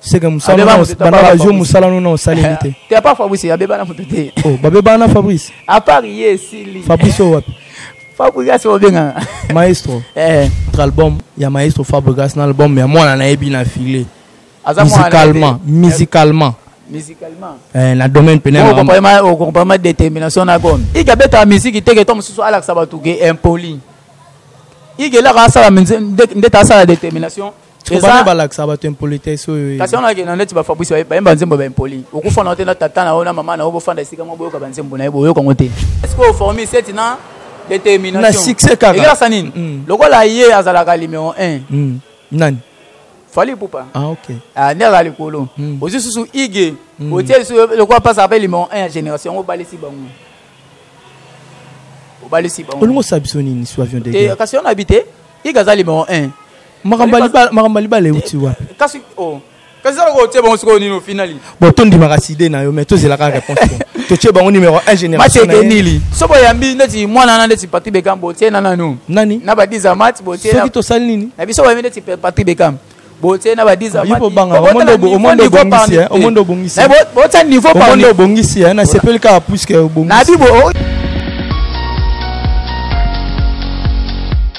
seke mosala Abeba na moto, os- banda abeba bazwi Fabrice. mosala no na osaleli te te apa fabrice abeba na moto te Oh, babebana na fabrice apart ye esili fabrice oyo wapi fabrigas obengana maestro Eh, Notre album ya maestro fabrigas na album ya mwana na ye bina file aza mwana na ye te. musicalement musicalement musicalement eh, na domaine pene ya makambo. okompama détermination na gome ike abetaka miziki teke to mosusu alakisa bato ke impoli ike elaka asala nde- ndete asala détermination bana balakisa bato impolitesse oyo kasi wana akenda neti bafabrice bayemba nzembo baimpoli okufanda yo te na tata na yo na mama na yo bofanda esika moko boyoka banzembo na ye boyoka yango te eske oformi seti na determinationekelasa nini mm. lokola ye azalaka numero 1 mm. nani fali pupa ah, okay. ah, nde azala likolo mm. ozwi susu ige mm. otie lisusu lokola mpasaka mpe numero 1 ya génération yango obalisi bango obalisi bango olingi osala biso nini su avion de kasi yo na bi te ige aza numero 1 makambo ya libala euti wapi kasi oh. kasi zala kotie bango sikoyo nini ofinali bon tondimaka side na yo mais tozelaka réponse totie bango numéro 1 généralmacekenili so boyambi ndeti mwana wana ndeti patri bekam botie na nanu nani na badiza mati botiesoki tosali nini na biso boyambi ndeti patri bekam botie na badiza matibotya niveau omondo obongisi nasepeli kaka puiske obongisi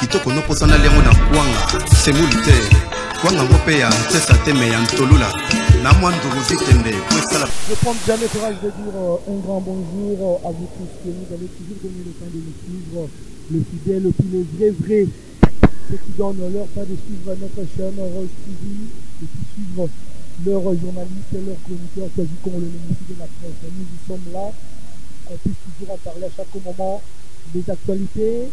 kitoko noposanali yango na kwanga semuli te kwanga ngo mpe ya nsesa te me ya ntolula na mwa ndugu vitembe mpo esala Je prends bien le courage de dire euh, un grand bonjour euh, à vous tous que vous avez toujours donné le temps de nous suivre, le fidèle, puis les vrais vrais, ceux qui donnent leur pas de suivre notre chaîne Rose TV et qui suivent leurs journalistes, leurs chroniqueurs, quasi qu'on le ministre de la presse. Nous, nous sommes là, qu'on puisse toujours en parler à chaque moment des actualités,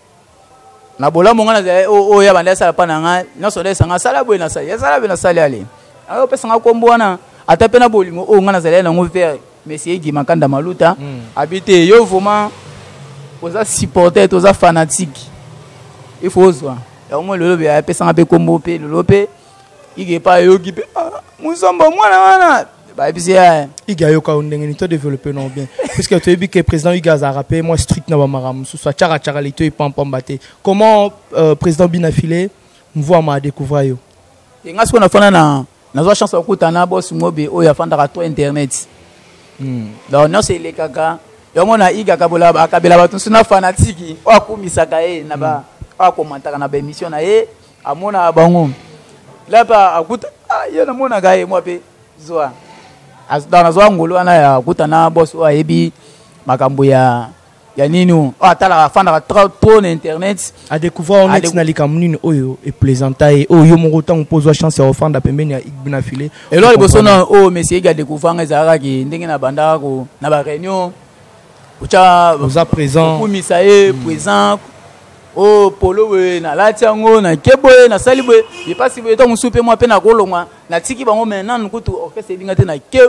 na bolamu ngai nazali oyo oh, oh, ya banda asala mpa na ngai nyonso ndayesa ngai asala boye nasali asala boye nasali ale ayo opesa ngai nkombo wana ata mpe na bolingo oyo oh, ngai nazali nango vere monsieur egi makanda maluta hmm. abi te yo vraiment oza supporter toza fanatique il faut ozwa yango lelo apesanga mpe nkombo mpe lelo mpe ige epa ayoki mpe ah, musombo mwana wana bayebisi ye ige ayoka yo ndenge nini to développe non bien puisque toyebi ke président ige azalaka mpe mwa strict na bamaka mosusu atyaka tyaka lito epampamba te comment euh, président bina file mvuama adécouvra yo e ngai sikoyo nafanda na nazwa chance ya kokutana bosi mobe oyo afandaka to internet hmm. donc nyonso elekaka yango na iga akabela bato mosusu na fanatiki oyo akumisaka ye na ba hmm. oyo akomantaka na baémission na ye amonaka bango lape akuta ah, ye namonaka ye mwa mpe zwa donc nazwa ngolu wana ya akuta na bos oyo ayebi makambo ya ya nini oyo oh, atalaka afandaka trop na internet adécouvrir wana ntina likambo nini oyo eplaisanta ye oyo yo moko ntango mpo ozwa chance ya ofanda pembeni ya igbina file eloko liboso na oyo mesi egi adécouvrir nga ezalaka ke ndenge na bandaka ko na baréunion otya oza présent okumisa ye présent oh polo boye nalati yango nake boye nasali boye epasi boye ntango mosusu mpe mwa mpe nakolongwa natiki bango mai nanu kutu orkestre ebinga te nake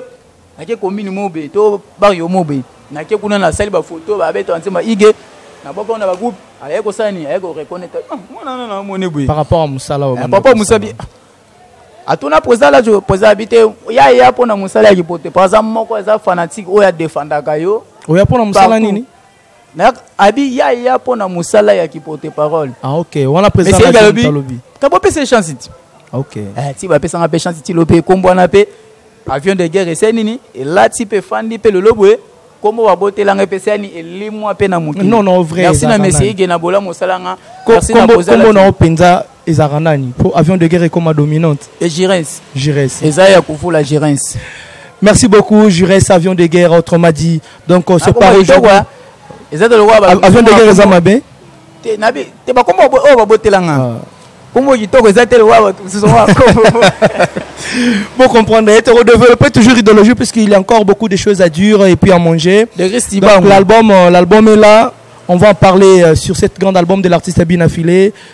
nake komini mobe to bario mobe nake kuna nasali bafoto babeta banzemba ige na boko na bagroupe ayaki kosala nini ayaki koreconnaitre ah, mwana na namoni boye par rapport ya mosala eh, par rapport ya mosala atuna président lajo président abi te ya ya mpo na mosala ya kipote par exemple moko eza fanatique oyo adefandaka yo oya mpo na mosala nini mais abi ya ya mpo na mosala ya kiporte parole ah, okay. wana presidentalobi kabopesa chance ti okay. eh, ti bapesanga mpe chance ti lo mpe ekombo wana mpe avion de guerre ese nini elati mpe efandi mpe lelo boye kombo babotelanga epesa yani elimwa mpe na mokili merci na mesi ige na bolamu osalanga kombo na yo mpenza ezalaka nani po avion de guerre ekoma dominante e giresse giresse eza ya kuvula giresse merci beaucoup giresse avion de guerre autrement dit donc ah, se part aujourd'hui eza de lokola avion de guerre eza mabe te nabi te bakoma oyo babotela nga ah. kombo kitoko eza te lokola bato mosusu Vous comprenez, et redévelopper toujours l'idéologie puisqu'il y a encore beaucoup de choses à dire et puis à manger. L'album, euh, l'album est là. On va en parler euh, sur cet grand album de l'artiste Abinafilé.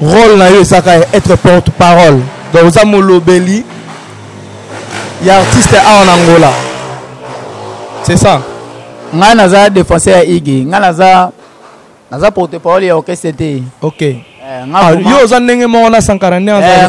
role na yo ezaka ya être porte parole donc oza molobeli ya artiste awa na angola c'est ça ngai naza défenseur ya igi ngai naza naza porte parole ya orchestre te ok eh, ah, yo oza ndenge moko na sankara nde eh,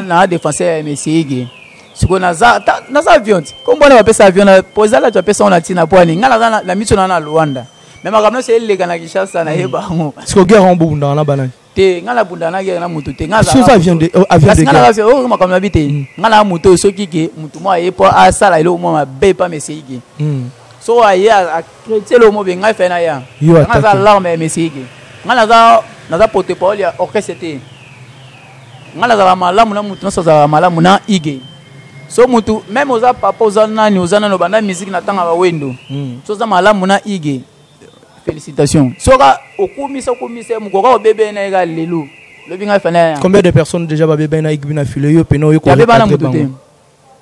na défenseur ya monsieur igi sikoyo naza naza avion ti kombo wana bapesa avion mpo ezala ti apesa ngo na ntina mpo ani ngai naza na miso na na luanda mais makambo nyonso eleka na kinshasa na ye hmm. bango siko guerre yango bobundaka na banani te ngai nabundaka na guerre na motu te ngasi ngai makambo na bi te hmm. ngai na motu oyo soki ke motu moko aye mpo asala eloko moko mabe mpa mesei ke hmm. so aye akreti eloko moko be ngai fai na ya ngai aza larme ya mesei ke ngai naza naza porte parole ya orchestre te ngai nazalaka malamu na motu nyonso azalaka malamu na ige so mutu meme oza papa oza nani oza nani obanda musique na tanga wendo hmm. so oza malamu na ige félicitation soka okumisa okumisa ye mokoka obebe na ye ka lelo lobi ngai fana ya combien de personnes déjà babebe na ige bina filo yo pena oyo koyabebana motu te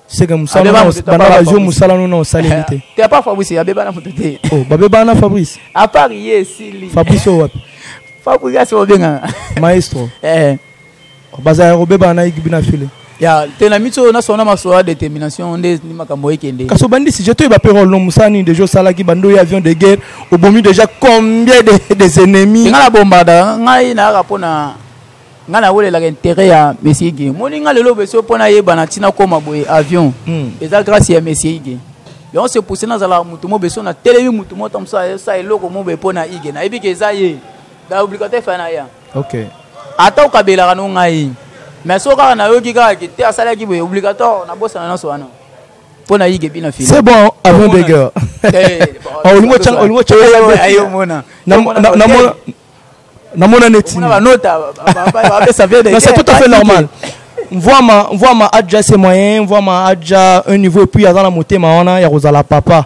seke musalabanda bazwi mosala no na osaleli te te apa fabrice abebana motu te oh, babebana fabrice apart ye esili fabrice oyo wapi fabrice asi obengana maestro eh. bazala ya kobebana na ekibi na file ya te na miso na sona masoa détermination nde ni makambo ekende kasi obandi sujet toyeba mpe role no mosala nini deja osalaki bando ya avion de guerre obomi déjà combien de, des ennemis nga na bombada ngai nayaka mpo na ngai nawelelaka intérêt ya monsieur ige moni ngai lelo beso mpo nayeba na ntina koma boye avion hmm. eza grâce ya monsieur ige yango se pousse nazalaka motu mo beso na telemi motu mo ta mosa esa eloko mo boye mpo na ige nayebi ke eza ye ba obligataire fa na ya okay ata okabelaka no ngai mais soki kaka nayoki kaka ke te asalaki boye obligatoire nabosana nyonso wana mpo nayike epi na fini c'est bon avant deger olingo tyayomona namona netic'est tout à fait normal mvwama mvwama adja se moyen mvwama adja un niveau epuis aza na motema wana ya kozala papa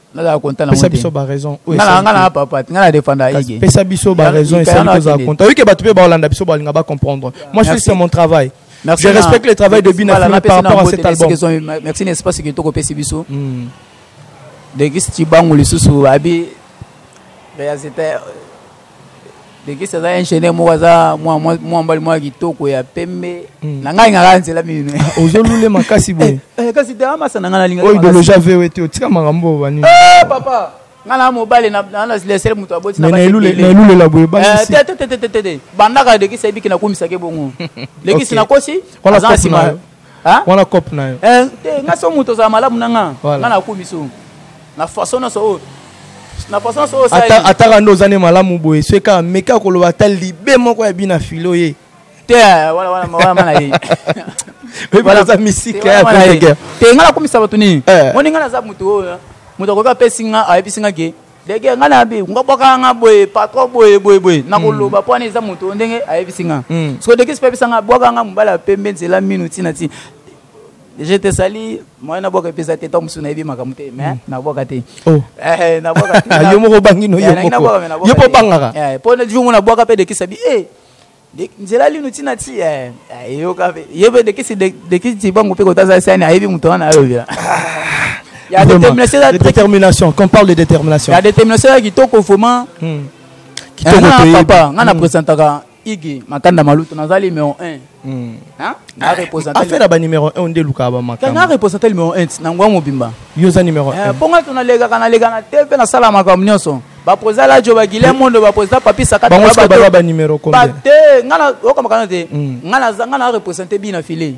nazala konta na pesa biso ba raison ngala ngala papa ngala defanda yige pesa biso ba raison et ça nous a konta oui que batu pe ba olanda biso ba linga ba comprendre moi je fais mon travail Merci je na, respecte le travail de Bina voilà, par rapport à cet album. Merci n'est-ce pas ce que tu as fait biso. Hmm. De qui tu bangu le sous abi réalisateur lekisi aza ingénieur moko aza mwa mobali mwa kitoko ya pembe hmm. na ngai ngaka nzela mino ah, ozolule makasi boye eh, eh, kasi deamasa na ngai nalinga oyo idologie avewe te otika makambo oyo banini eh, papa ngai na mobali nasilesele moto aboti nailulela boye te bandaka lekisi ayebiki nakumisaki bongo lekisi nakosi aza na nsima Hein? Wana cop na yo. Eh, te nga so moto ozala malamu na nga. Voilà. Nga na ko biso. Na façon na so na façon so sa. Ata ataka ndo ozane malamu boye. So ka meka ko loba ta libe moko ya bina filo ye. Te eh, wala wala wala mana ye. Voilà za misika ya boteke. Te nga na ko misaba tuni. Eh. Moni nga na za moto oyo. Moto ko ka pesi nga ayebisi nga ke. dege ngai nabi nga bwakaka nga boye patro boye boye boye nakoloba mpo wana eza moto ndenge ayebisi nga hmm. soko dege sipe abisa nga bwakaka nga mobali ya pembe nzela mino ntina ntina je te sali moyen nabwaka epesa te ntango mosusu nayebi makambo te mais hmm. nabwaka te oh. eh, eh, yo moko obangi no yo eh, mpo obangaka mpo jour ngo nabwaka mpe dekisa bi e nzela linu ti na ti eh, eh, eyoka mpe ye mpe dekisi dekisi tibangu mpe kotaza sani ayebi moto wana alobela ya détermination ya détermination qu'on parle de détermination ya détermination ya kitoko vraiment hmm. kitoko eh, papa nga na hmm. presentaka igi makanda malutu nazali numéro 1 hmm. affaire ya banuméro 1 nde elukaka bamakanga represente numéro 1 na ngwa mobimba yo oza numéro 1 mpo nga to nalekaka naleka na te mpe nasala makambo nyonso ba president lajo ba guilin mondo ba president papi sakata bango sika baza ba numéro combien ba te ngana okoma kana te hmm. ngana ngana représenter bina filet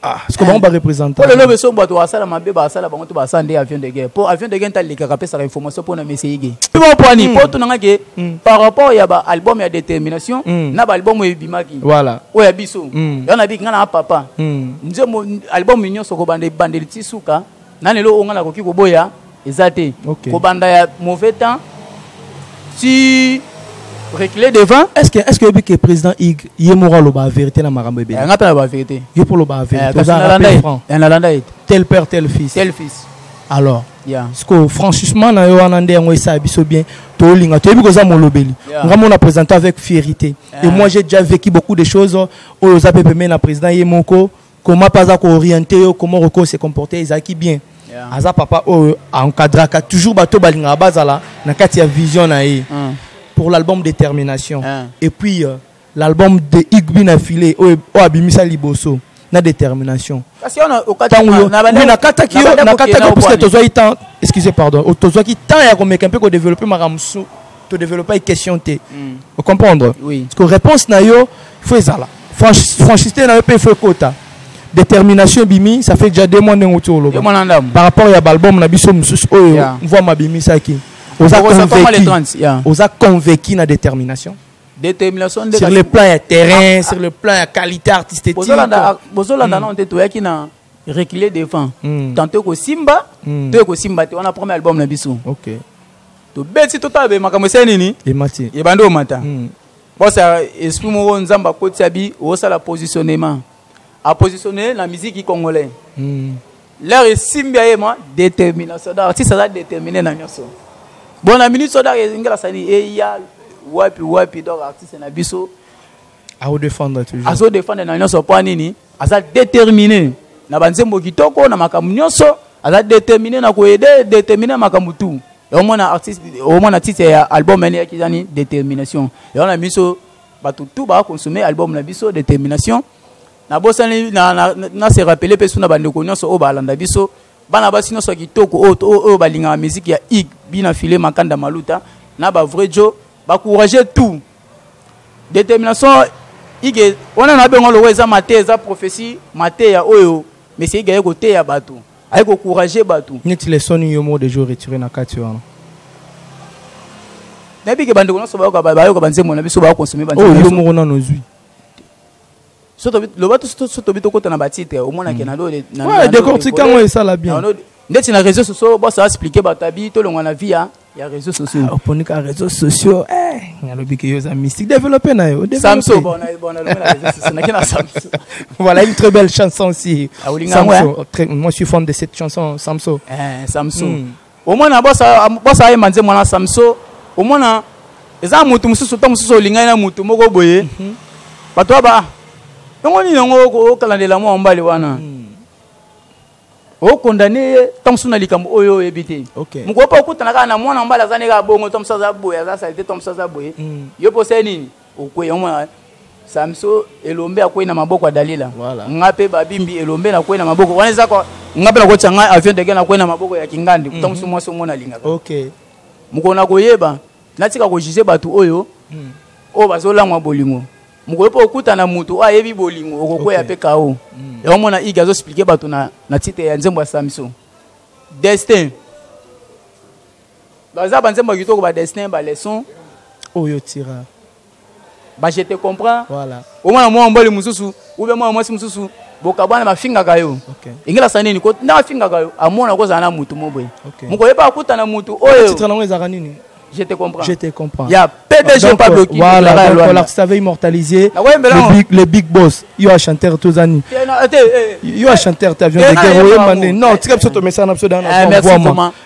ah ce que bango ba représenter pour le lobe so bato asala mabe ba asala bango to ba asala nde avion de guerre pour avion de guerre ta leka ka pesa information pour na monsieur yige po poani po to nanga ke par rapport ya ba album ya détermination hmm. na ba album ya bimaki voilà o ya biso hmm. ya na bi ngana papa nzembo album nyonso ko bande bande tisuka nani eloko ngai nakoki koboya eza te okay. kobanda ya mauvais temps ti reculer devant est-ce que est-ce que oyebi que président ig ye moko aloba vérité na makambo ebele eh, ngai mpe naloba vérité yo mpo oloba vérité eh, oza rappel franc eh, nalanda ye tel père tel fils tel fils alors yeah. siko franchissement na yo wana nde yango esala biso bien tolinga toyebi koza molobeli yeah. nga mona présente avec fierité yeah. et moi j'ai déjà vécu beaucoup de choses oyo oza mpe pembe na président ye moko comment pas à orienter yo comment roko se comporter ezaki bien yeah. aza papa oyo encadraka toujours bato balingaka bazala na kati ya vision na ye mm. pour l'album détermination yeah. et puis euh, l'album de igbi na filet oyo abimisa liboso na détermination nakataki yo nakataki puisque tozwaki temps excuse pardon tozwaki temps ya komeka mpe kodeveloppe makambo mosusu To développer question te. Mm. Vous comprendre? Oui. Parce que réponse na yo, il faut ezala. Franch, franchité na yo pe il faut kota. Détermination bimi, ça fait déjà deux mois ndenge tu oloba. Par rapport ya album na biso mususu oyo, yeah. voix ma bimi ça qui. Oza convaincu. Yeah. Oza convaincu na détermination. Détermination sur le plan ya terrain, ah, sur le plan ya qualité artistique. Bozolanda bozolanda mm. non te toyaki na reculer devant. Mm. Tantôt ko simba, mm. to ko simba te on a premier album na biso. OK. tobeti totala be makambo esali nini emati ebandi omata hmm. bosa esprit moko nzambe akotisi abi osala positionnement apositionne na miziki congolais hmm. leur esimbi ya ye ma détermination donc artiste aza détermine na nyonso bon na minute so donc ezingela sani eya wapi wapi donc artiste na biso aodefendre toujours azodefendre na nyonso mpo nini aza determine na banzembo kitoko na makambo nyonso aza determine na koyede determine na makambo tu omona artiste omona titre ya album ene yaki ezani determination yango na biso bato tu bakonsome album na biso determination nabosani na, na, na, na se rappele mpe su na bandeko nyonso oyo balanda biso bana basi nyonso ya kitoko oyo balingaka miziki ya ig bina file makanda maluta na bavrai jo bacourage tout determination ike wana na bengo lokola eza mateya eza prophetie mateya oyo mesi ike aye koteya bato aye kocourage bato neti leson yo moko deja oretire na kati wana nayebi ke bandeko nyonso bayoka banzembo na biso bakonsome banzembo oh, yo moko nano ozwi loba so tobi tokota na batitre omonake hmm. nalo decortika yango esala bien ndeti na réseau sociaux bosa explike bato abi tolongwa na via ya réseau sociaux ah, oponi ka réseau sociaux eh, alobi ke yo oza mystique développe na yo samso voilà une très belle chanson aussi ah, samso hein? très, moi je suis fan de cette chanson samso eh, samso mm. omona bwasa ye manze mwana samso omona eza motu mosusu ntango mosusu olingani na motu moko boye mhm. bato ya ba yango nini yango okalandela mwa mbali wana hmm. okondane ye ntango mosusu na likambo oyo oyebi te mokolo mpe okutana kaka na mwana mbali aza ndenge abongo ntango mosusu aza boye aza salite ntango mosusu aza boye hmm. yo mpe osali nini okweya omona samso elombe akwei na maboko ya dalila voilà. nga mpe babimbi elombe nakwei na maboko wana eza nga mpe nakotia ngai avion dege nakwei na maboko ya kingandi kuta mosu mhm. mwasi omona alingaka okay. mokolo na koyeba natika kojuge bato oyo mm. oyo bazolamwa bolingo mokolo mpo okutana moto oyo ayebi bolingo okokweya mpe okay. kao mm. yango mona ige azoexplike bato na, na titre ya nzembo ya samson destin baza banzembo kitoko ba destin ba leçon oyo tira ba je te comprends voilà omwana mwa mbali mosusu ube mwana mwasi mosusu bokabwana bafingaka yo okay. engelasa nini nda afingaka yo amona kozala na motu moboye okay. mokoyeba akuta na motu oyo yango ezalaka nini Je te comprends. Je te comprends. Il y a PDG donc, Pablo qui voilà, donc, voilà, voilà, savait immortaliser ah le big, le big boss. Il y a chanteur tous années. Eh, eh, eh. Il y a chanteur avion de guerre. Non, tu as besoin de mettre ça en absolu dans eh, Merci Thomas.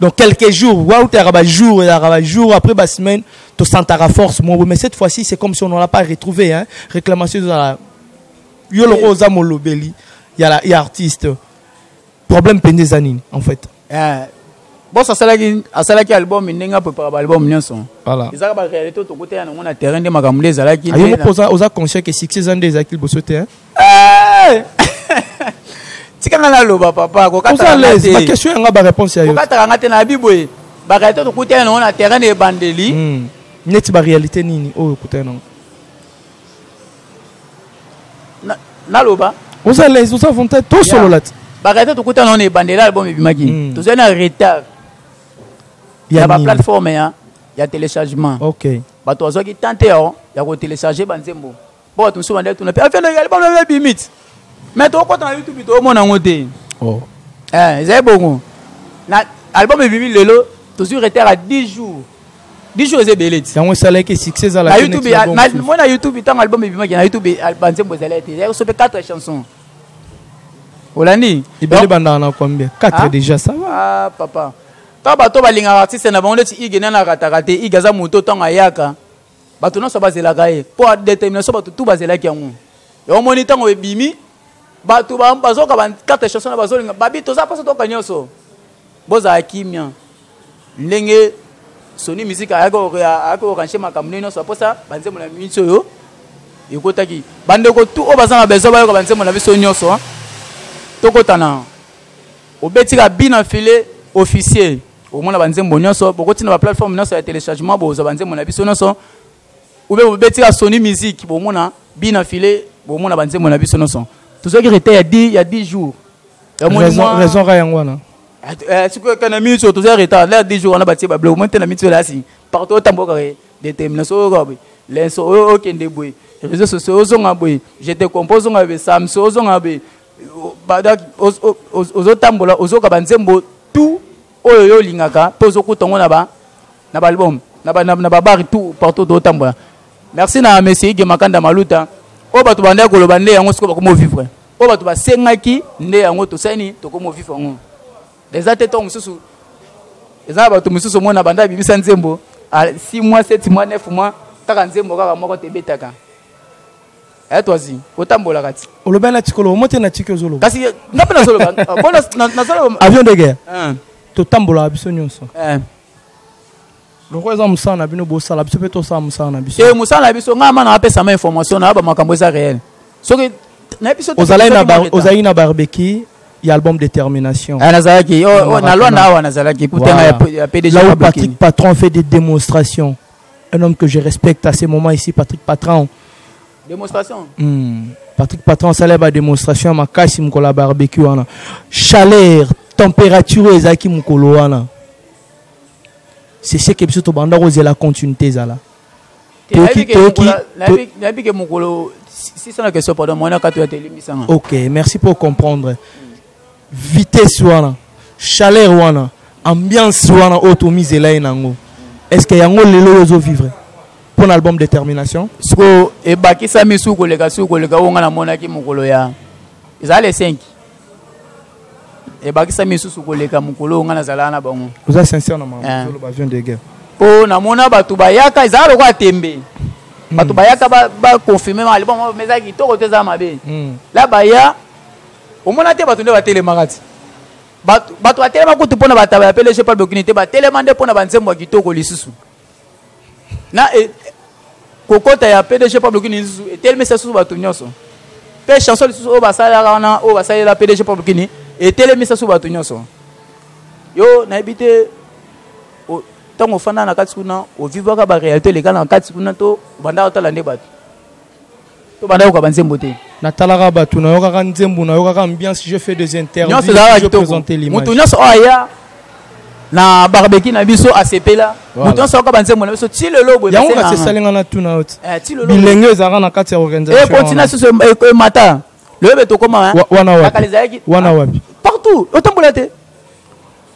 donc quelques jours wautaka ba jours ezalaka ba jours après ba semaine tosantaka force moko mais cette fois-ci c'est comme si on n'a pas retrouvé hein réclamation ezala yo loko oza molobeli ya ya artiste problème mpenza eza nini en fait eh, bos asalaki asalaki album ndenge apepaka baalbum nyonso ezaka baréalité tokoteya nango na terrain nde makambo nde ezalaki oza conscient ke succès eza nde ezalaki liboso te tika nga naloba papa kokataaquestion yanga baréponse yayo kokataka nga te nayebi boye baréalité tokutani nango na terrain na ebandeli hmm. neti baréalité nini oyo okutani nango naloba oza lese oza volontaire tosolola te baréalité tokutani nango na ebandeli album ebimaki hmm. tozali na retard ya baplateforme ya téléchargement bato bazwaki tante ya kotelecharge banzembo Bon, tu me souviens de tout. Puis, affaire de l'album, on avait limite. Mais tu vois, tu YouTube, tu vois, mon angoté. Oh. Eh, c'est bon. L'album est venu, Lelo, toujours été à 10 jours. 10 jours, c'est belé. C'est un salaire qui est succès à la YouTube. Moi, na YouTube, tant album est venu, na YouTube, album, c'est bon, c'est là. Il y a 4 chansons. olandi ebele bandaka na combien 4 ah? déjà ça va ah, papa ntango bato balingaka artiste na bango ndeti ige nani akataka te ige aza moto ntango ayaka bato nyonso bazelaka ye mpo ya determination bato tu bazelaki yango yango omoni ntango ebimi bato bazoka bakarte chanson na bazolinga babi toza mposa toyoka nyonso bozala kimia ndenge soni miziki ayaki korange makambo ndenge nyonso mposa banzembo na minso oyo ekotaki bandeko tu oyo baza na besoin bayoka banzembo na biso nyonso tokotana obetika bina file officier okomona banzembo nyonso bokoti na baplateforme nyonso ya téléchargement bozwa banzembo na biso nyonso ube bobeti ya soni musique bomona bina file bomona banzembo na biso nyonso tozwaki rete ya 10 ya 10 jours raison ka yango wana sikoyo eh, kana minso toza retard la 10 jours wana batie bablo omoi te na minso elasi partout otamboka determination oyoka boye lenso oyo okende boye réseau sociaux ozonga boye je te comprends ozonga boye samso ozonga boye ozotambola ozoyoka banzembo tout oyo yo olingaka mpe ozokuta yango na ba na baalbum na babari tout partout tozotambola merci na monsieur ige makanda maluta oyo bato bandaki koloba nde yango sikoyo bakomi ovivre oyo bato basengaki nde yango tosali nini tokomi ovivre yango eza te ntango mosusu eza na bato mosusu omona banda abimisa nzembo 6 mois 7 mois 9 mois kaka nzembo kaka moko te ebetaka Eh toi zi, otambola kati. Oloba na tikolo, omote na tiki ozoloba. Kasi nga pe nazoloba. Bon nazoloba. Avion de guerre. Hein. To tambola biso nyonso. Eh. lokola eza mosala na bino bosala biso mpe tosala mosala na biso e mosala na biso ngai ma na apesama information na ba makambo eza réel soki na biso ozalaki na barbeki ya album détermination eh, nazalaki oh, oh, na lwanda awa nazalaki kutenga ya pdg patrick patron fait des démonstrations Un homme que je respecte à ce moment ici, Patrick Patron. Démonstration hmm. Patrick Patron, ça la démonstration, ma casse, mon la barbecue. Chaleur, température, ezaki mon coloana. C'est ce que biso tobanda kozela continuité ezala. Toki toki. Nabi que mon colo 600 questions pardon, moi na kato ya telimisa. OK, merci pour comprendre. vitesse wana chaleur wana ambiance wana oyo tomizela ye nango est ce que yango lelo oyo ozovivre mpo na album détermination siko ebakisami suku koleka suku koleka oyo ngai namonaki mokolo ya ezala le 5 ebakisami lisusu koleka mokolo oyo ngai nazalaka na bango oza sincère na maoloba eh. vion de guerre mpo namona bato bayaka ezala lokola tembe hmm. bato bayaka baconfirme ma libongo eza kitoko te eza mabe hmm. la baya omona te bato nde batelemaka ti bato batelema kutu mpo na bataba ya pelege mpe bokini te batelema nde mpo na banzembo ya kitoko lisusu na e, kokota ya pdg mpe bokini lisusu etelemisa lisusu bato nyonso mpe chanson lisusu oyo basalelaka wana oyo basalela pdg mpe bokini etelemisa lisusu bato nyonso yo nayebi te ntango ofanda na kati kuna ovivaka barealité eleka na kati kuna to obandaka otala nde bato to banda yoka banzembo te natalaka bato nayokaka nzembo nayokaka ambiance je fais des interviewsmoto nyonso oyo aya na barbeki na biso asepela moto nyonso ayoka banzembo na biso ti lelo boyango kasi esalinga na tuna yo eh, bilenge ezalaka na kati ya organisationncontina eh, susu emata eh, loyebe tokoma wana wapi partout otambola te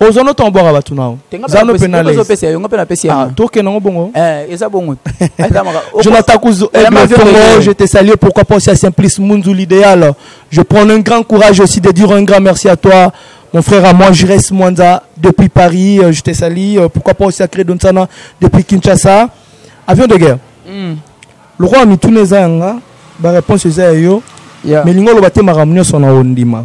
oza no ntango bwaka bato nao zano mpe naletoke nango bongo jonathan kuzo aigle je te salue pourquoi pas aussi à simplice munzu l'idéal je prends un grand courage aussi de dire un grand merci à toi mon frère à moi Jires Mwanza depuis Paris euh, je te salue euh, pourquoi pas aussi à Credonsana depuis Kinshasa avion de guerre hmm. le roi mituna eza yanga ba réponse eza ya yo mais lingo oloba te makambo nyonso na ondima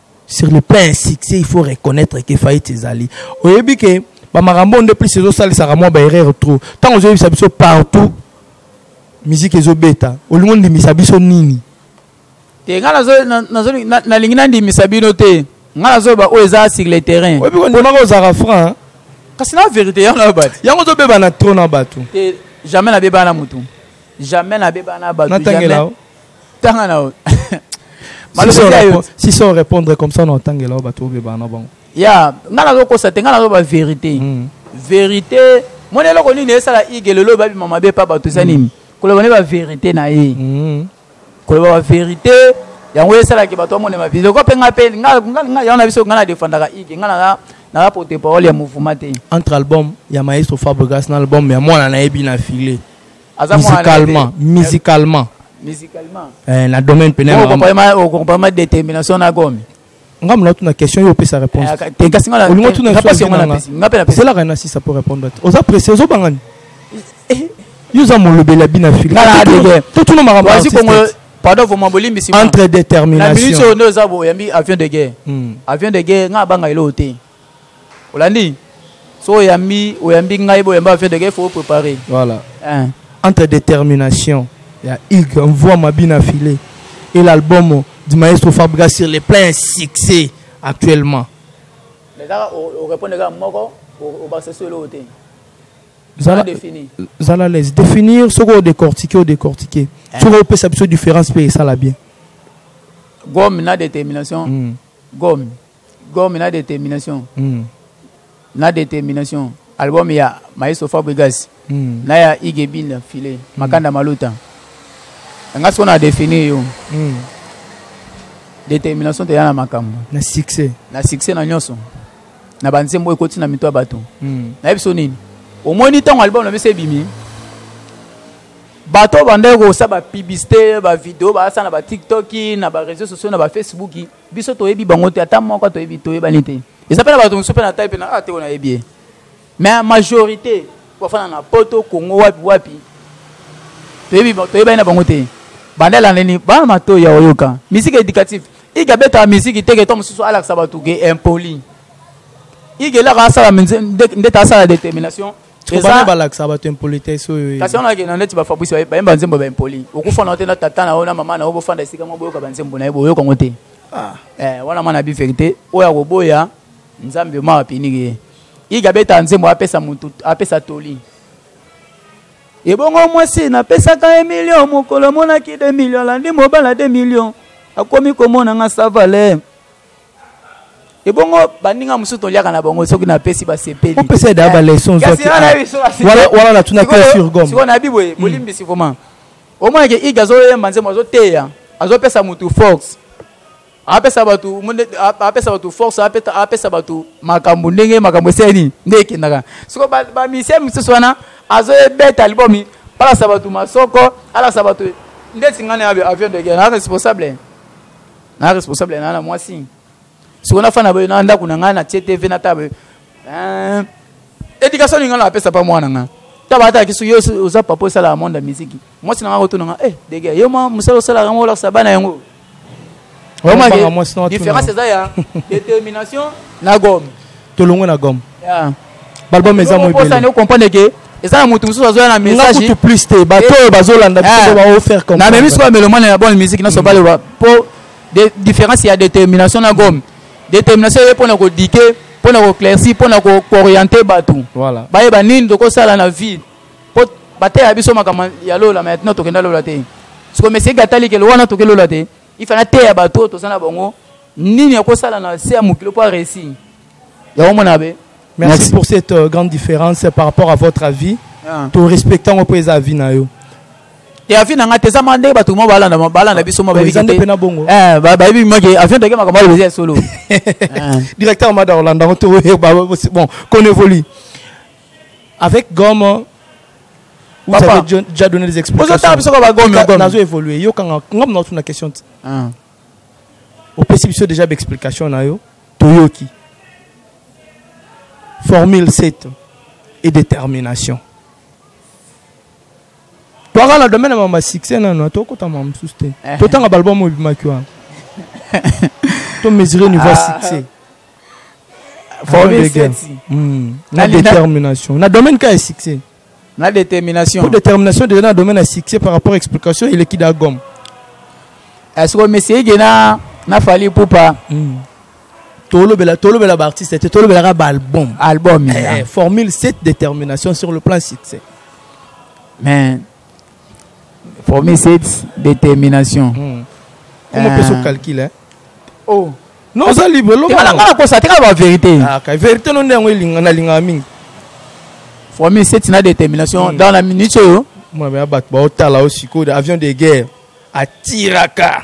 sur le plan ya succès il faut reconnaître ke faillite ezali oyebi ke bamakambo oyo nde plus ezosalisaka mwa baerreur trop ntango ozoyebisa biso partout miziki ezobeta olingi ondimisa biso nini te ngai nalingi nandimisa bino te ngai nazoyeba oyo eza sur le terrain oyebi kondimaka ozalaka franc kasi na verité yango nayo bato yango ozobeba na trop na bato te jamais nabeba na motu jamais nabeba na bato natangela tanga na yo si so répondre comme ça na otangela yo bato obeba na bango ya ngai nazokosa te ngai nazoba vérité hmm. vérité mona eloko nini esala ige lelo babima mabe pa bato eza nini hmm. koloba nde baverité na ye hmm. koloba baverité yango esalaki bato bamonema vie loko mpe ngai mpe yango na biso ngai nadefandaka ige ngai naza naza porte parole ya mouvement te entre album ya maestro fabrigas na album ya mwana nayebi na filet musicalement musicalement musicalement eh, na domaine pene okompama détermination na gomi nga mona tuna question yo opesa réponse eh, te kasi nga olingo tuna eselaka na sisa po répondre te oza presse ozobanga ni eh, yo oza molobeli ya bina fili totuna makambo pardon vraiment bolimbisi entre détermination na minute oyo nde oza boyambi avion de guerre hmm. avion de guerre nga abanga eloo te olandi so oyambi oyambi ngai boyamba ba fedeke faut préparer voilà hein. entre détermination ya hugue mvua mabina filet et l'album du maestro fabriga sur les plein succès actuellement ezaka orépondre kaka moko obakisa so eloko te zala défini zala laisse définir soki odécortique odécortique eh. soki opesa biso différence mpe esala bien gomme na détermination mm. gomme Gomme na determination. Mm. Na determination. Album ya Maestro Fabregas. Mm. Na ya Igebinda Filet. Mm. Makanda Maluta. Nga siko na définir yo. Mm. Determination te yana makambo. Na succès. Na succès na nyoso. Na banzembo ekoti na mito ya bato. Mm. Na yebiso nini? Omoni ntango album na biso ebimi. bato bandeko kosala bapiblisite bavideo basala na batiktoki na bareseau sociaux na bafacebook biso toyebi bango te ata moko toyebi toyebani te eza mpe na bato mosusu mpe na tai mpe na te oyo nayebi ye mais majorité bafana na poto congo wapi wapi toyebi toyebani na bango te banda elandeni bana matoi ya oyoka misiki éducative ike abetaka misiki te ke to mosusu alakisa bato ke impoli ike elaka asala ndete asala détermination bana balakisa bato impolitesse oyo kasi wana akenda neti bafabrice bayemba nzembo ba impoli okufana yo te na tata na yo na mama na yo bofanda esika moko boyoka banzembo na ye boyoka yango te ah. eh, wana mwana bi verité oyo akoboya nzambe ma apiniki ye iga abeta nzembo apesa motu apesa toli ebongo mwasi napesaka ye milio mokolo monaki de milio alandi mobala de milio akomi komona nga savale ebongo baninga mosusu toliaka na bango soki napesi basepeli opesa ye daa baleson wana natuna pe sur gomme sikoyo nayebi boye hmm. bolimbisi vraiment omonake ige azoyemba nzembo azoteya azopesa motu force apesa bato apesa bato force apesa bato makambo ndenge makambo esali nini nde ekendaka soko bamisie mosusu wana azoyebeta libomi alasa bato masoko alasa bato ndeti ngai na avion de guerre na responsable na responsable ya na mwasi sikoyo nafanda boye na ndako na ngai na tie tv na table eh, éducation ninga napesa mpa mwana ngai taba ataki soki yo oza papa osalaka monde ya miziki mwasi na ngai kotuna ngai eh dege yo mwa mosala osalaka yango olakisa bana yango différence eza ya détermination na gome tolongwe na gomme yeah. balbum eza moebele okomprendre ke eza na moto mosusu azoya na messagenakutu plus te bato eh. oyo bazolanda biso baofaire comme na memi sikoyo melomane ya bonne musique nyonso baloba mpo différence ya détermination na gomme détermination eye mpo na kodike mpo na koclairci mpo na kooriente bato bayeba nini tokosala na vie mpo bateya biso makambo ya lola maintenant tokenda lola te sikoyo mesieki atali ke lowana toke lola te il faut nateya bato oyo toza na bango nini akosala na se ya mokili mpo aresi yango mona be merci, merci pour cette euh, grande différence par rapport à votre avis ah. to respectant yango mpo eza avis na yo ya avis na ngai te eza maka ndenge bato mo balanda balanda biso mo bayebi te na bongo eh bayebi maki avis ndenge makambo alobi ya solo directeur mada olanda ngo to bon qu'on évolue Avec Gomo, vous Papa. avez déjà- déjà donné des explications. Ozo tala biso kaka ba Gomi, Ka- Gomi. nazo évoluer. Yo kanga ngam na tuna question. ti. Ah. Opesi biso déjà ba explication na yo. Toyoki. Formule 7 et détermination. Toaka na domaine ya ma succès na na tokota ma mususu te. Totanga ba album oyo bimaki wana. To mesurer niveau ya succès. Hmm. na détermination na domaine ka ya succès na détermination pour détermination déjà na domaine ya succès par rapport à explication eleki da gomme est-ce que monsieur ege na na fali pupa hmm. tolobela tolobela baartiste te tolobelaka baalbum album eh, formule cette détermination sur le plan succès mais former cette détermination hmm. comment euh... peut se calculer oh non oza libre lobanga nga nakosa te kaka baverité ah, ka verité no nde yango elinga nalingaka mingi former cette na détermination hmm. dans la minute oyo mwana ya bato baotala o sikoyo avion de guerre atiraka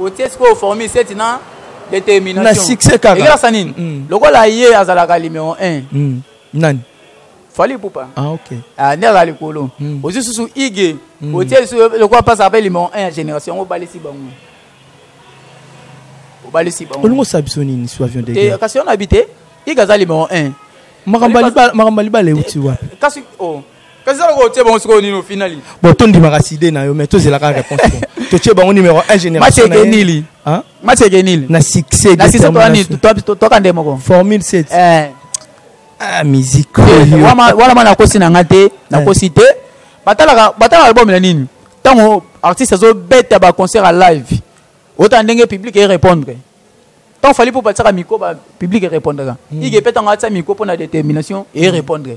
otie sikoyo formule seti na determination na succès kaka ekelasa nini mm. lokola ye azalaka numero 1 mm. nani fali ipupa ah, okay. ah, nde azala likolo mm. ozwi susu ige mm. otie lisusu lokola mpasa ape numero 1 ya génération yango obalisi bango obalisi bango olingi osala biso nini su avion de kasi yo na bi te ige aza numero 1 makambo ya libala euti wapi kasi oh. kasi aloka otie bango sikoyo nini ofinali bon tondimaka side na yo mais tozelaka réponse totie bango numéro 1 générationmacekenili macekenili na succèstokaka nde moko formule 7 eh. ah, musique eh, wana ma nakosi na nga te eh. nakosi te batalaka album na nini ntango artiste azobeta baconcert ya live otala ndenge public erépondre ntango fali mpo batisaka mikro public erépondreka hmm. ike mpe ntango atia mikro mpo na détermination erépondre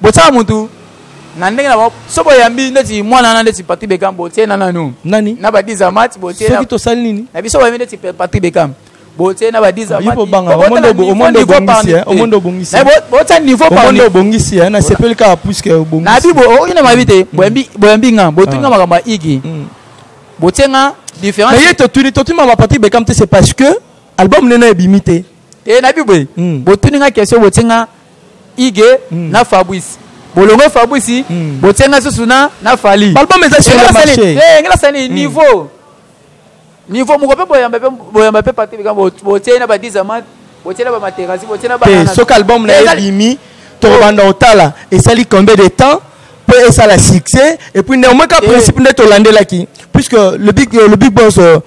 botyaka motu na ndenge na bango so boyambi ndeti mwana wana ndeti patri bekam botie na nanu nani na badiza mati botiesoki tosali nini na biso boyambi ndeti patri bekam botie na badiza matibotia niveau obongisi eh, nasepeli kaka puiske obongisi na bi okoki na mabi te mm. boyambi nga botuni nga ah. makambo ya igi mm. botie nga différence ye totuni totuni mama patri bekam te c'est parce que album nena ebimi te e na bi boye mm. botuni nga question botie nga ige mm. na fabrice bolongo fabrice mm. botie nga susu na na fali balbum eza sur le marché eh, ngela sani mm. niveau niveau moko mpe boyamba mpe boyamba mpe pate bikambo botie na badizamate botie na bamaterasi botie na te soki album na ye ebimi tokobanda otala esali combien de temps mpe esala succès et puis néanmoins ka eh. principe nde tolandelaki puisque le big, le big boss euh,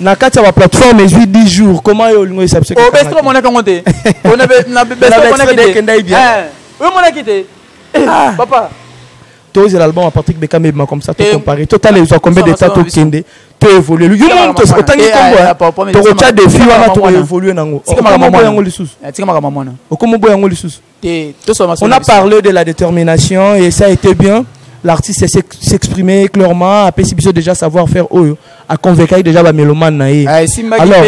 na kati ya ba plateforme ezwi 10 jours comment yo olingo esa biso oh, obestre omonaki yango te onaekendaki bien eh, omonaki te eh, ah. papa tozela album ya patrick bekam ebima comme ça tocompare totala ezwa combien de temps tokende toévolue yo moni otangi nkombo tokotya defi wana tokoévolue nango okomoboya yango lisusu okomoboya yango lisusu On a parlé de la détermination et ça a été bien. L'artiste s'est exprimé clairement, a si biso déjà savoir faire oyo, a convaincu déjà ba mélomane na ye. Ah, Alors,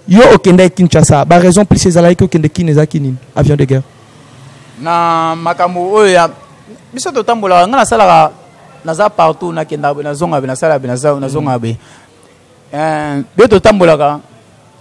yo okende Kinshasa, ba raison plus ezalaki ko kende Kin eza kinini, avion de guerre. Na makambo oyo ya biso totambola nga nasalaka naza partout nakenda nazonga be nasala be nazonga be. Euh, biso totambolaka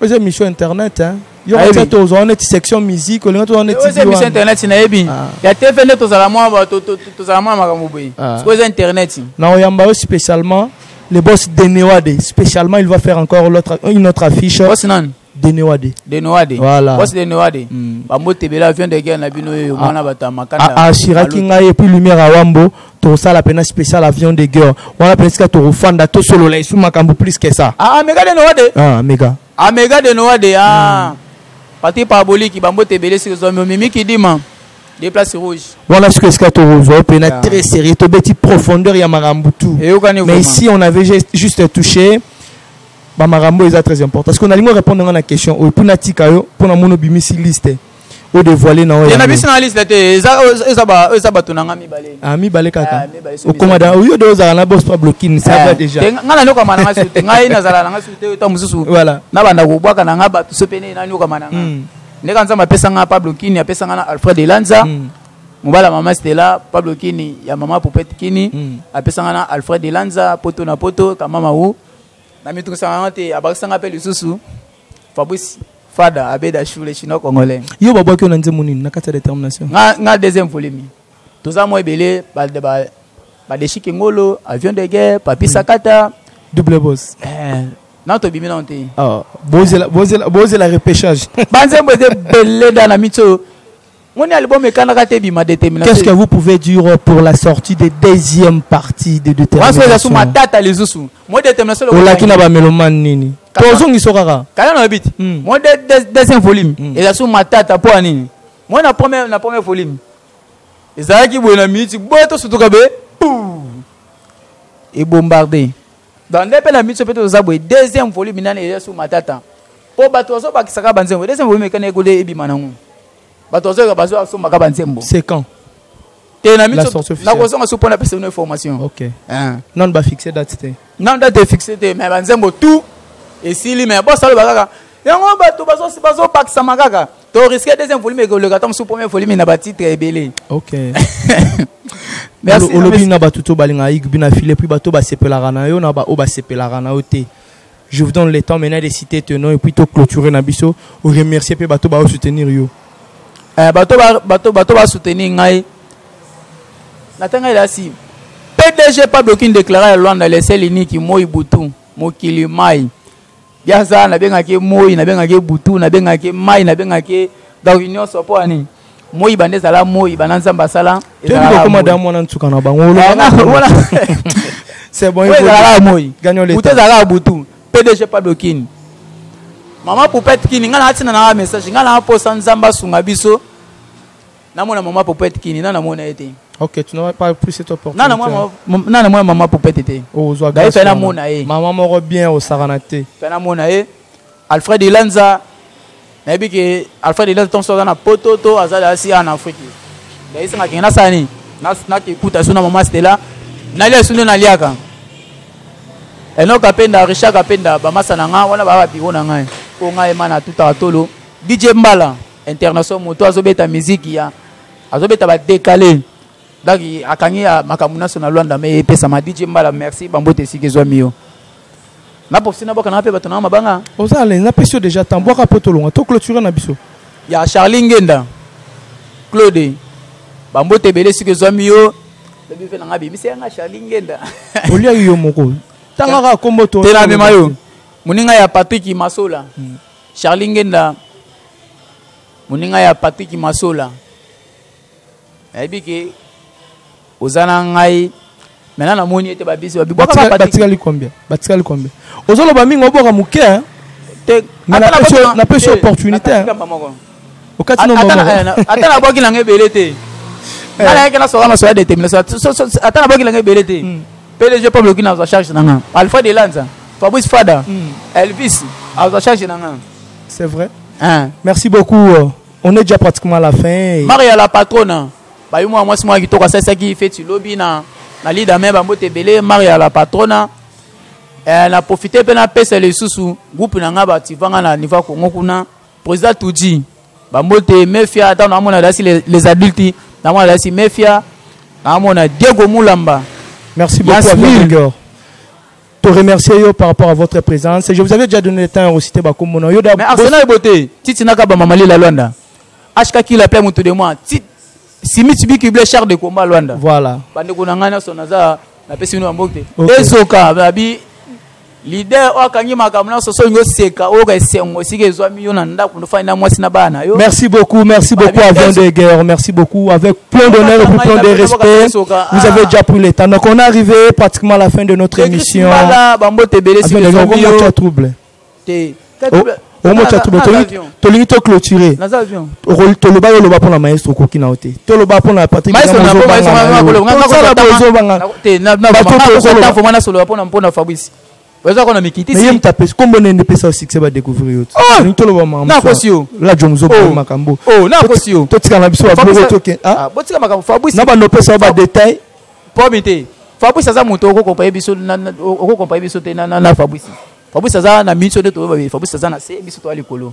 oza émission internet hein? yokati ete ozwa neti section musique olinga tozwa neti eh, émission internet nayebi ah. ya tv nde tozala mwa tozala mwa makambo boye ah. sikoyo eza internet na oyamba yo spécialement le boss denewade spécialement il va faire encore une autre affiche boss nani denewade denewade voilà boss denewade hmm. bamotebela avion de guerre na bino oyo ah. mwana bato ya makanda assuraki ngai epuis lumière awambo tosala pena special avion de guerre wana pena esika tokofanda tosolola esu makambo plus que ça ah, ah mega de noa de ah mega ah mega de noa de ah pati paraboliki bambote ebele sika ozwami omemi kidima de place rouge wana soki esika tokozwa pena yeah. très sérieux tobeti profondeur ya makambo tout mais ici on avait juste touché bamakambo eza très important parce que nalingi orépondre nga na question oyo mpo natika yo mpo namoni obimisi liste o devoile na oyo na biso na liste te eza eza ba eza bato na ngai mibale ah mibale kaka ah, okoma da oyo do ozala na boss Pablo Kin ça va eh, déjà ngai na nyoka mana ngai sute ngai nazala na ngai sute ta mususu voilà na banda ko bwaka na ngai bato so pene na nyoka mana ngai hmm. ndeka nzambe apesa ngai Pablo Kin apesa ngai na Alfred Elanza hmm. mobala mama stela pablo kini ya mama popete kini hmm. apesa ngai na alfred elanza poto na poto kamama u na mitungisaka ngai te abakisa ngai mpe lisusu Fabrice Fada abeda shule chinois congolais. Yo babwa kyo na nzembo nini na kati ya determination? Nga nga deuxième volume. Toza mwa ebele ba ba ba deshiki ngolo, avion de guerre, papi hmm. sakata, double boss. Eh, na tobimi na te. Ah, bozela bozela bozela repêchage. Banzembo eze beleda na mitso. Moni album ekanaka te bima determination. Qu'est-ce que vous pouvez dire pour la sortie de deuxième partie de determination? Waso yasu matata les usu. Moi determination. Olaki na ba meloman nini? Tozongiso kaka. Kala na bit. Hmm. Moi deuxième volume. Hmm. Eza su matata po nini? Moi na première na première volume. Ezalaki boye na minute boye to sutuka be. Et bombardé. Dans ndepe na minute pe to za boye deuxième volume nani eza su matata. Po bato bazobakisaka banzembo. Deuxième volume ekana ekode ebima nango. bato bazoyoka bazo asombaka banzembo c'est quand te na miso nakozonga so mpo na pesa bino information ok hein. nano bafixe date te nano date efixe te mais banzembo tout esili mais bosaloba kaka yango bato bazobakisama kaka to risque deuxième volume ekoleka ntango mosusu premier volume na batitre ebele ok olobi na bato to balingaka yigbi na file puis bato basepelaka na yo na baoyo basepelaka na yo te Je vous donne le temps maintenant de citer ton nom et puis to clôturer na biso, ou remercier pe bato ba soutenir yo. Eh bato ba bato bato ba soutenir ngai. Na tanga ila si. PDG pas bloqué une déclaration à Luanda le seul unique moi Butu, mokili mai. Biaza na benga ke moi, na benga ke Butu, na benga ke mai, na benga ke donc union sopo ani. moi bande ezala moi bana nzambe asala tokoma da mwana nsuka na bango ezalaka moi butu ezalaka butu pdg pablo kini mama popete kini ngai naatina nanga message ngai naa mposa nzambe asunga biso namona mama popete kini na namona ye te Ok, tu n'aurais pas plus cette opportunité. Non, non, moi, non, moi, maman poupette était. Oh, zwa grâce. D'ailleurs, fais la mona eh. Maman moro bien au Saranate. Fais la mona eh. Alfred Ilanza nayebi ke Alfred Ilanza tonso aza na poto to aza asi en Afrique ndayisanga kenge nasala nini nakekuta so na mama Stella nalia so nde naliaka eno kapenda richard kapenda bamasa na ngai wana baa biro na ngai mpo ngai ema na tutaka tolo dj mbala international moto azobeta miziki ya azobeta badekale donc akangi makambo nyonso na lwanda me epesama dj mbala merci bambote esika ezwami yo na profite na bwaka na pe bato na mabanga oza alain na pesi yo déjà temps bwaka po tolonga to clôturer na biso ya charlie ngenda claude bambote ebele soki ezwami yo lobi mpe nanga bimisi yanga charlie ngenda oliaki yo moko tangaka kombo to te namema yo moninga ya patrick masola hmm. charlie ngenda moninga ya patrick masola nayebi ke oza na ngai maintenant namoni ete babisi batikali combien batikali combien ozoloba mingi oboka moke hein? napesi opportunité hein? okati ata nabwaki nanga ebele te eh. nalayaki nasoka nasoya détermination ata nabwaki nanga ebele te hmm. pdg peuple oki nazwa charge nanga alpha de lanza fabrice fada hmm. elvis azwa charge nanga c'est vrai hein. merci beaucoup euh, On est déjà pratiquement à la fin. Maria la patrona. Ba yo moi moi kitoko sasa ki feti lobi na na leader mais ba mbote belé Maria la patrona. Eh, na profite mpe napesa lisusu groupe na ngai bativanga na niveau ya kongo kuna président tudi bango te mefia ntango namona dasi les adultes namona dasi mefia namona diego mulamba merci beaucoup To remercier yo par rapport à votre présence. Je vous avais déjà donné le temps de citer Bakumbo. Non, Yoda. Mais Arsenal est beauté. Titi n'a qu'à Bamamali la Luanda. HK qui l'appelle mon tout de moi. Titi. Simi Tibi qui blesse char de combat Luanda. Voilà. Bande qu'on a gagné son hasard. La personne nous a mboté. Ezoka, babi. Leader, oyo akangi makambo nyonso soki olingi oseka oyoka esengo esika ezwami yo na ndako nofandi na mwasi na bana yo merci beaucoup merci beaucoup avant de guerre merci beaucoup avec Plein d'honneur et plein de respect. Vous avez déjà pris le temps. Donc on est arrivé pratiquement à la fin de notre émission. Ah, trouble. omota trouble tolingi toclôture toloba yo loba mpona maestro okoki na yo te toloba mpona patrickobanga oza kona mikitisi mais ye moto apesi kombo nende epesa yo succès ba découvrir yo oh! toloba makambo na kosi yo la jomo zo oh! makambo oh na kosi yo totika na biso ba boko toke ah, ah botika makambo fabrice na ba no pesa ba détail pomi te fabrice aza moto okokompaye biso okokompaye biso te na fabrice fabrice aza na miso nde toyeba fabrice aza na se biso toya likolo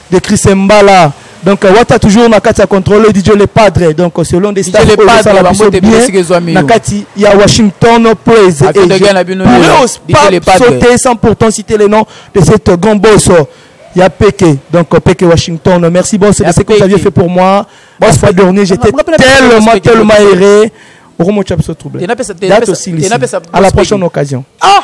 de Chris Mbala donc euh, wata toujours na kati ya contrôle DJ le padre donc euh, selon des stars oyo esala biso bien na kati ya Washington Praise et je pourrais pas sauter sans pourtant citer le nom de cet grand boss euh, ya Peke donc Peke Washington merci boss de ce que vous aviez fait pour moi la fois dernière j'étais tellement tellement erré okomotya biso trouble date osilisi à la prochaine occasion ah